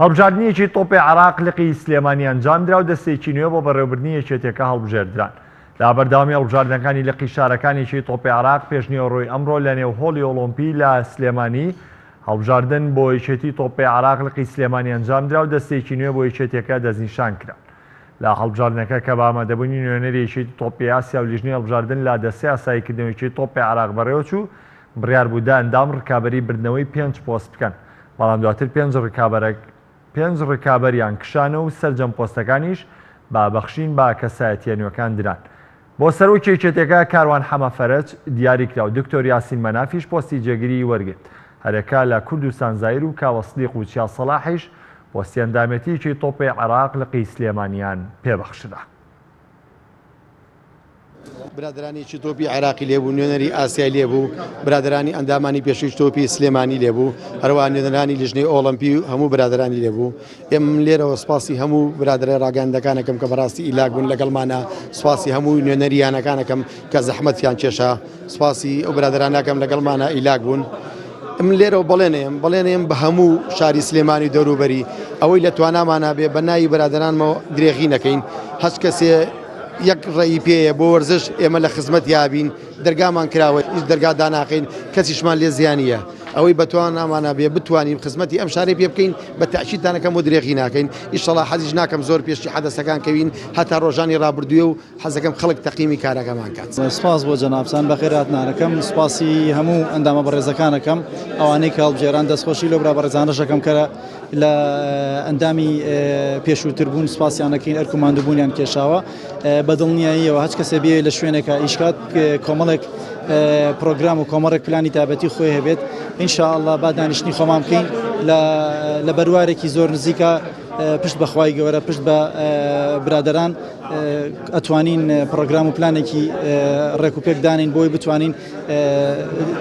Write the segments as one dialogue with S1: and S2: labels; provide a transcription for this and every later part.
S1: هەڵبژاردنێکی تۆپێ عێراق لقی سلێمانی ئەنجامدرا و دەستێکی نوێ بۆ بەڕێوبردنی یەکێتیەکە هەڵبژێردران لە بەردەوامی هەڵبژاردنەکانی لقی شارەکانێکی تۆپێ عێراق پێشنیوەڕۆی ئەمڕۆ لە نێو هۆڵی ئۆڵۆمپی لە سلێمانی هەڵبژاردن بۆ یەکێتی تۆپێ عراق لقی سلێمانی ئەنجامدرا و دەستێکی نوێ بۆ یەکێتەکە دەستنیشان کرا لە هەڵبژاردنەکە کە بامەدەبوونی نوێنەرێکی تۆپی ئاسیا و لیژنی هەڵبژاردن لا دەستی ئاساییکردنەوەیکی تۆپی عراق بەڕێوەچوو بڕیار بوو دە ئەندام ڕکابەری بردنەوەی پێنج پۆست بکەن، بەڵام دواتر پێنج ڕکابەرە پێنج ڕکابەریان کشانە و سەرجەم پۆستەکانیش بە بەخشین بە کەسایەتییە نوێکان دران. بۆ سەرۆکی یەکێتیەکە کاروان حەمە فەرەج دیاری کرا و دکتۆر یاسین مەنافیش پۆستی جێگری وەرگرت. هەریەکە لە کوردستان زایر و کاوە سدیق و چیا سەڵاحیش پۆستی ئەندامێتیی تۆپێی عێراق لقی سلێمانیان پێبەخشرا.
S2: برادەرانی چ تۆپی عێراقی لێبوو نوێنەری ئاسیای لێبوو برادەرانی ئەندامانی پێشوی تۆپی سلێمانی لێبوو هەروە نوێنەرانی لژنەی ئۆڵمپی و هەموو برادرانی لێبوو ئێم لێرەوە سپاسی هەموو برادرە ڕاگەندەکانەکەم کە بەڕاستی ئیلاگون لەگەڵمانە سپاسی هەموو نوێنەریانەکانەکەم کە زەحمەتیان کێشا سوپاسی ئەو برادرانەکەم لەگەڵمانە ئیلاک بوون من لێرەوە بەڵێنێم بەڵێنێم بە هەموو شاری سلێمانی دەوروبەری ئەوەی لە توانامانە بێ بە ناوی برادرانمەوە درێغی نەکەین هەست کەسێ یەک ڕێی پێەیە بۆ وەرزش ئێمە لە خزمەت یابین دەرگامان کراوە هیچ دەرگا داناقین کەسیشمان لێ زیانە ئەوەی بەتوان نامانە بێ بتوانین خزمەتی ئەم شارەی پێ بکەین بە تاچیتانەکەم و درێغی ناکەین ئیشەڵا حەزیش ناکەم زۆر پێشتی حەدەسەکان کەوین هەتا ڕۆژانی ڕابردوێ و حەزەکەم خەڵک تەقیمی کارەکەمان کات. سپاس بۆ جەنابتان
S3: بەخێر هاتنانەکەم سپاسی هەموو ئەندامە بەڕێزەکانەکەم ئەوانەی کە هەڵبژێران دەستخۆشی لەو برا بەڕێزانەشەکەم کە لە ئەندامی پێشووتر بوون سپاسیانەکەین ئەرک و ماندووبوونیان کێشاوە بە دڵنیاییەوە هەچ کەسێ بێ لە شوێنێکە ئیشکات کۆمەڵێک پرۆگرام و کۆمەڕێک پلانی تابەتی خۆی هەبێت انشاءله با دانیشتنی خۆمان بکەین لە بەروارێکی زۆر نزیکە پشت بە خوای گەورە پشت بە برادەران ئەتوانین پرۆگرام و پلانێکی ڕێک و پێک دانین بۆی بتوانین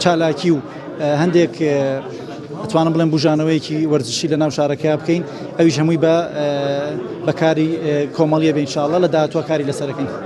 S3: چالاکی و هەندێک ئەتوانم بڵێن بژانەوەیەکی وەرزشی لە ناو شارەکە بکەین ئەویش هەمووی بە بەکاری کۆمەڵیە بینشاءله لە داهاتوە کاری لەسەرەکەین.